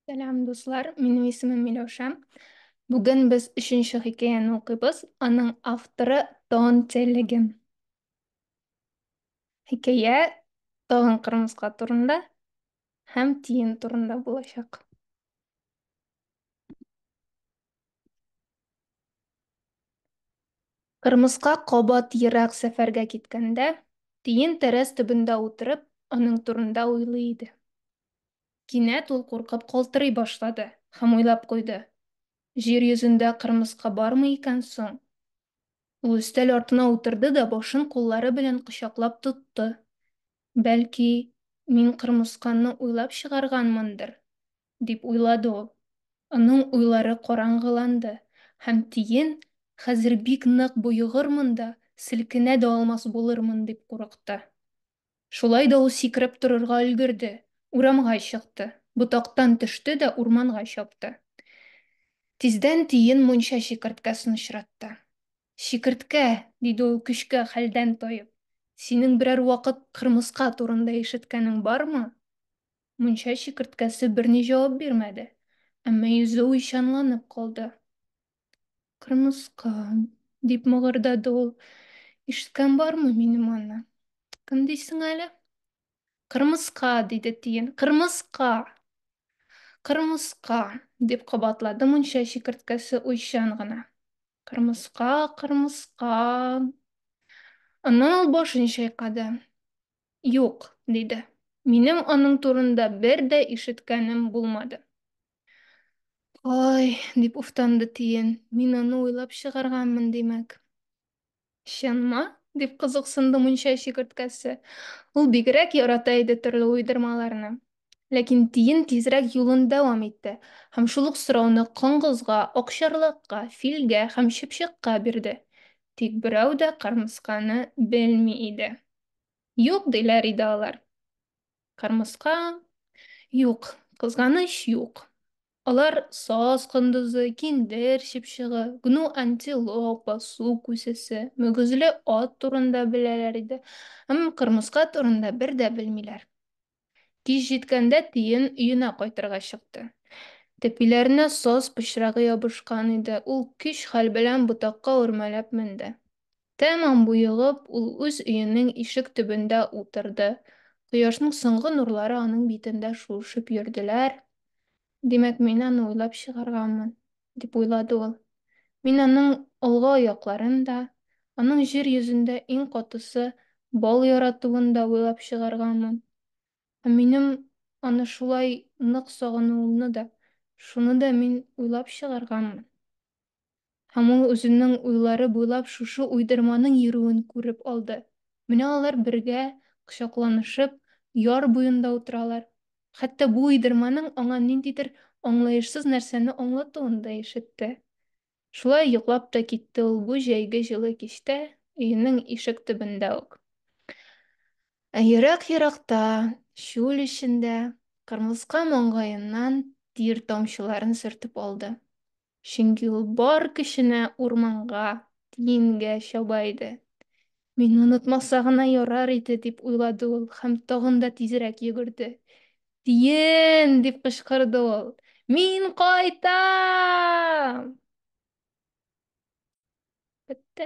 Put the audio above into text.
Сәлам, дуслар, минем исемем Миләүшә. Бүген без өченче хикәяне укыйбыз. Аның авторы Тон Телеге. Хикәя тагын кырмыска турында һәм тиен турында булачак. Кырмыска кабат ерак сәфәргә киткәндә, тиен тәрәз төбендә утырып, аның турында уйлый иде. Кинәт ул куркып калтырый башлады һәм уйлап куйды, Җир йөзендә кырмыска бармы икән соң? Ул өстәл артына утырды да башын куллары белән кочаклап тотты. Бәлки, мин кырмысканы уйлап чыгарганмындыр? дип уйлады ул. Аның уйлары караңгыланды һәм тиен, Хәзер бик нык боегырмын да, селкенә дә алмас булырмын, дип курыкты. Шулай да ул сикереп торырга өлгерде, урамга чыкты, ботактан төште дә урманга чапты. Тиздән тиен мунча чикерткәсен очратты. Чикерткә, диде ул көчкә хәлдән таеп, синең берәр вакыт кырмыска турында ишеткәнең бармы? Мунча чикерткәсе берни җавап бирмәде, әмма йөзе уйчанланып калды. Кырмыска, дип мыгырдады ул, ишеткән бармы минем аны? Кем дисең әле? Кырмыска, диде тиен, кырмыска! Кырмыска! дип кабатлады мунча чикерткәсе уйчан гына. Кырмыска, кырмыска! Аннан ул башын чайкады. Юк, диде. Минем аның турында бер дә ишеткәнем булмады. Ай, дип уфтанды Тиен. Мин аны уйлап чыгарганмын, димәк. Чынмы? дип кызыксынды мунча чикерткәсе. Ул бигрәк ярата иде төрле уйдырмаларны. Ләкин Тиен тизрәк юлын дәвам итте һәм шул ук сорауны коңгызга, акчарлакка, филгә һәм чыпчыкка бирде. Тик берәү дә кырмысканы белми иде. Юк, диләр иде алар. Кырмыска, юк, кызганыч, юк. Алар саз кондызы, киндер чыпчыгы, гну антилопа, су күсесе, мөгезле ат турында беләләр иде, әмма кырмыска турында бер дә белмиләр. Кич җиткәндә Тиен өенә кайтырга чыкты. Тәпиләренә саз пычрагы ябышкан иде, ул көч-хәл белән ботакка үрмәләп менде. Тәмам боегып, ул үз өенең ишек төбендә утырды. Кояшның соңгы нурлары аның битендә шуышып йөрделәр. Димәк, мин аны уйлап чыгарганмын. дип уйлады ул. Мин аның алгы аякларын да, аның җир йөзендә иң катысы бал яратуын да уйлап чыгарганмын. Ә минем аны шулай нык сагынуымны да, шуны да мин уйлап чыгарганмын. Һәм ул үзенең уйлары буйлап шушы уйдырманың йөрүен күреп алды. Менә алар бергә, кочакланышып, яр буенда утыралар. Хәтта бу уйдырманың аңа ниндидер аңлаешсыз нәрсәне аңлатуын да ишетте. Шулай йоклап та китте ул бу җәйге җылы кичтә, өенең ишек төбендә үк. Ә ерак-еракта, чүл эчендә, кырмыска маңгаеннан тир тамчыларын сөртеп алды. чөнки ул бар көченә урманга, диенгә чаба иде. Мине онытмаса гына ярар иде, дип уйлады ул һәм тагын да тизрәк йөгерде. Диен! дип кычкырды ул. Мин кайтам! Бетте.